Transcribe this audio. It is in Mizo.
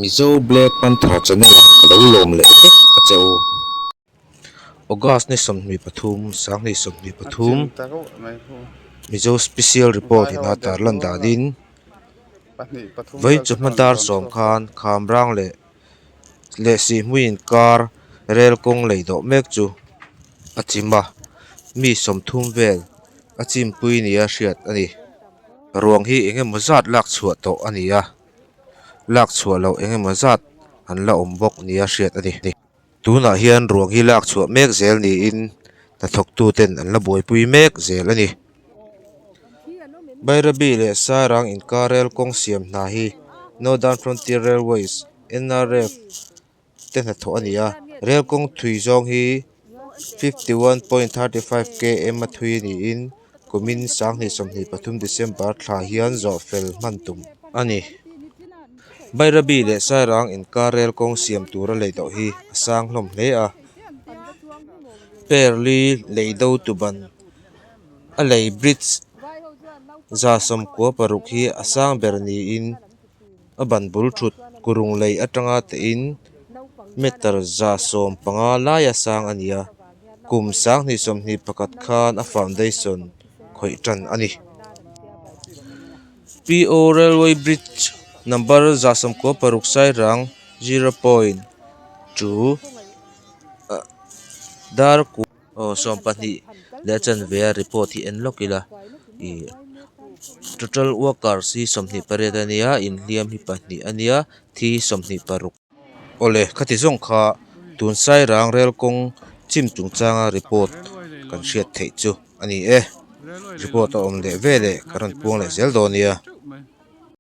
Mizo Black Panther Channel ah ka lo lawm leh vek a che u. August ni sawmhnih pathum, Sanghnih sawmhnih pathum, Mizo Special Report in a tar lan dan in, vawinchawh hma dar sawm khan khamrang leh leh sihmui in kar rel kawng lei dawh mek chu a chim a, mi sawmthum vel a chimpui nia hriat a ni. Ruang hi eng emaw zat lak chhuah tawh a ni a. lak chhuah loh eng emaw zat an la awm bawk nia hriat a ni ni tunah hian ruang hi lak chhuah mek zel niin hnathawk tu ten an la buaipui mek zel a ni Bairabi leh Sarang inkar rel kawng siam hna hi Northern Frontier Railways NRF te hnathawh a ni a rel kawng thui zawng hi fifty one point thirty five KM a thui niin kumin sang hnih sawmhnih pathum December thla hian zawh fel hman tum a ni Bairabi leh Sairang inkar rel kawng siam tura lei doh hi a sang hlawm hle a Perli lei do tuban a lei bridge za sawm kua paruk hi a sang ber niin. a ban bul thut kurung lei atanga tein meter za sawm panga laia sang a ni a, kum sang hnih sawm hnih pakhat khan a foundation khawih tan a ni. PO railway bridge number za sawm kawl paruk sairang zero point two darkut. Aw sawm pahnih leh a chanveia report hi en lawk ila ih total workers hi sawmhnih pariat a nia inhliam hi pahnih a nia thi hi sawmhnih paruk awle khati zawng kha tun sairang rel kawng chim chung changa report kan hriat theih chu a ni e report a awm leh ve leh ka rawn puang leh zel dawn nia.